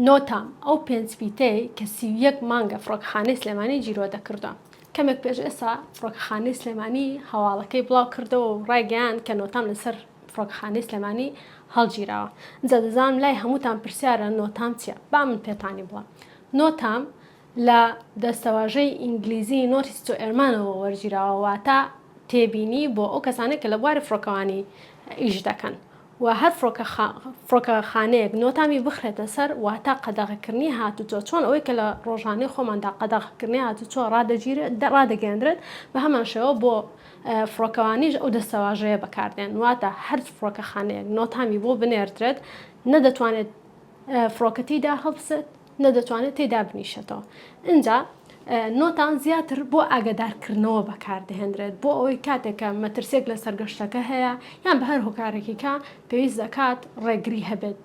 نۆتە، ئەو پێنج فیتەی کە سی و یەک مانگە فڕۆکەخانەی سلێمانی جیرۆدە کردوە، کەمێک پێش ئێستا فڕۆکەخانەی سلێمانی هەواڵەکەی بڵاو کردەوە و ڕایگەیاند کە نۆتام لەسەر فڕۆکەخانەی سلێمانی هەڵگیراوە، ئینجا دەزانم لای هەمووتان پرسیارە نۆتام چیە، با من پێتانی بڵێم. نۆتام لە دەستەواژەی ئینگلیزی Notice to Airman ەوە وەرگیراوە، واتە تێبینی بۆ ئەو کەسانەی کە لە بواری فڕۆکەوانی ئیش دەکەن و هەر فڕۆکەخانەیەک نۆتامی بخرێتە سەر واتە قەدەغەکردنی هاتوچۆ چۆن ئەوەی کە لە ڕۆژانەی خۆماندا قەدەغەکردنی هاتوچۆ ڕادەگەیەندرێت بە هەمان شێوە بۆ فڕۆکەوانیش ئەو دەستەواژەیە بەکاردێن واتە هەر فڕۆکەخانەیەک نۆتامی بۆ بنێردرێت نە دەتوانێت فڕۆکە تێیدا هەڵبسێت نە دەتوانێت تێیدا بنیشێتەوە ئینجا نۆتان زیاتر بۆ ئاگادارکردنەوە بەکاردەهێنرێت بۆ ئەوەی کاتێکە مەترسێک لە سەرگەشتەکە هەیە یان بە هەر هۆکارێکیکە پێویست دەکات ڕێگری هەبێت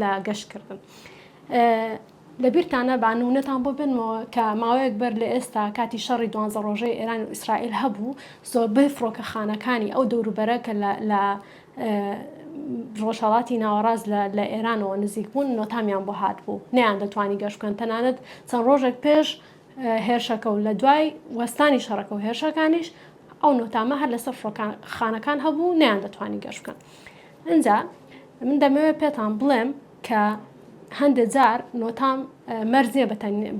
لە گەشتکردن. لە بیرتانە بانونەتان بۆ بنمەوە کە ماوەیەک بەر لە ئێستا کاتی شەڕی دوانزە ڕۆژەی ئێران و ئیسرائیل هەبوو زۆربەی فڕۆکەخانەکانی ئەو دەوروبەرە کە لە ڕۆژهەڵاتی ناوەڕاست لە ئێرانەوە نزیک بوون نۆتامیان بۆ هات بوو نیان دەتوانی گەشت بکەن تەنانەت چەند ڕۆژێک پێش هێرشەکە و لە دوای وەستانی شەڕەکە و هێرشەکانیش ئەو نۆتامە هەر لەسەر فڕۆکان خانەکان هەبوو نیان دەتوانی گەشت بکەن اینجا من دەمەوێت پێتان بڵێم کە هەندێ جار نۆتام مەرج نیە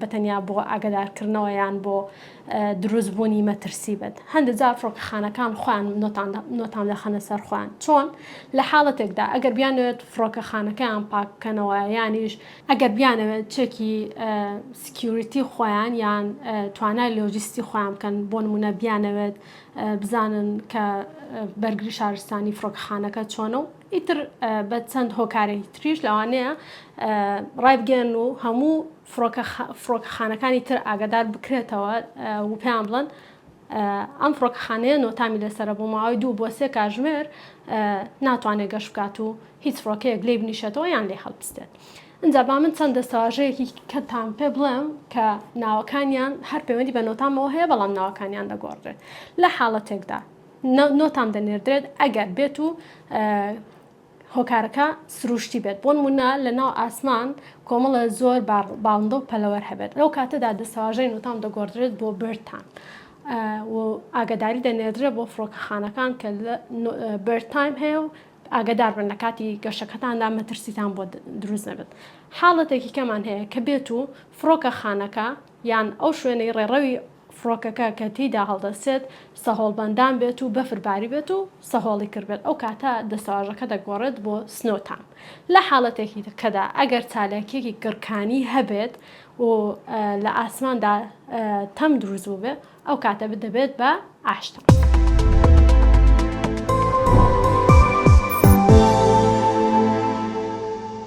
بە تەنیا بۆ ئاگەدارکردنەوە یان بۆ دروست بوونی مەترسی بێت هەندێ جار فڕۆکەخانەکان خۆیان نۆتام دەخەنە سەر خۆیان چۆن لە حاڵەتێکدا ئەگەر بیانوێت فڕۆکەخانەکەیان پاک بکەنەوە یانیش ئەگەر بیانەوێت چێکی سکیوریتی خۆیان یان توانای لۆجیستی خۆیان بکەن بۆ نمونە بیانەوێت بزانن کە بەرگری شارستانی فڕۆکەخانەکە چۆنە و ئیتر بە چەند هۆکارێکی تریش لەوانەیە ڕایبگەن و هەموو فڕۆکەخانەکانی تر ئاگادار بکرێتەوە و پێیان بڵند ئەم فڕۆکەخانەیە نۆتامی لەسرە بۆ ماوەی دوو بۆ سێ کاژمێر ناتوانێت گەشت بکات و هیچ فڕۆکەیەک لێ بنیشێتەوە یان لێ هەڵبستێت. ئەجا با من چەند دەستەواژەیەکی کەتان پێ بڵێم کە ناوەکانیان هەر پەیوەندی بە نۆتامەوە هەیە بەڵام ناوەکانیان دەگۆڕێت لە حاڵەتێکدا نۆتام دەنێردرێت ئەگەر بێت و هۆکارەکە سروشتی بێت بۆن منا لە ناو ئاسمان کۆمەڵە زۆر باڵندە و پەلەوەر هەبێت لەو کاتەدا دەسەواژەی نوتام دەگۆڕدرێت بۆ برتان ئاگداری دەنێدرێت بۆ فڕۆکەخانەکان کە برتایم هەیە و ئاگدار بن لە کاتی گەشەکەتاندا مەترسیتان بۆ دروست نەبێت حاڵەتێکی کەمان هەیە کە بێت و فڕۆکە خانەکە یان ئەو شوێنەی ڕێڕەوی فڕۆکەکە کە تێیدا هەڵدەستێت سەهۆڵبەندان بێت و بەفر باریبێت و سەهۆڵی کردبێت، ئەو کاتە دەستەواژەکە دەگۆڕێت بۆ سنۆ تام. لە حاڵەتێکی کەدا ئەگەر چالاکییەکی گڕکانی هەبێت و لە ئاسماندا تەم دروست بووبێت، ئەو کاتە دەبێت بە ئاش تام.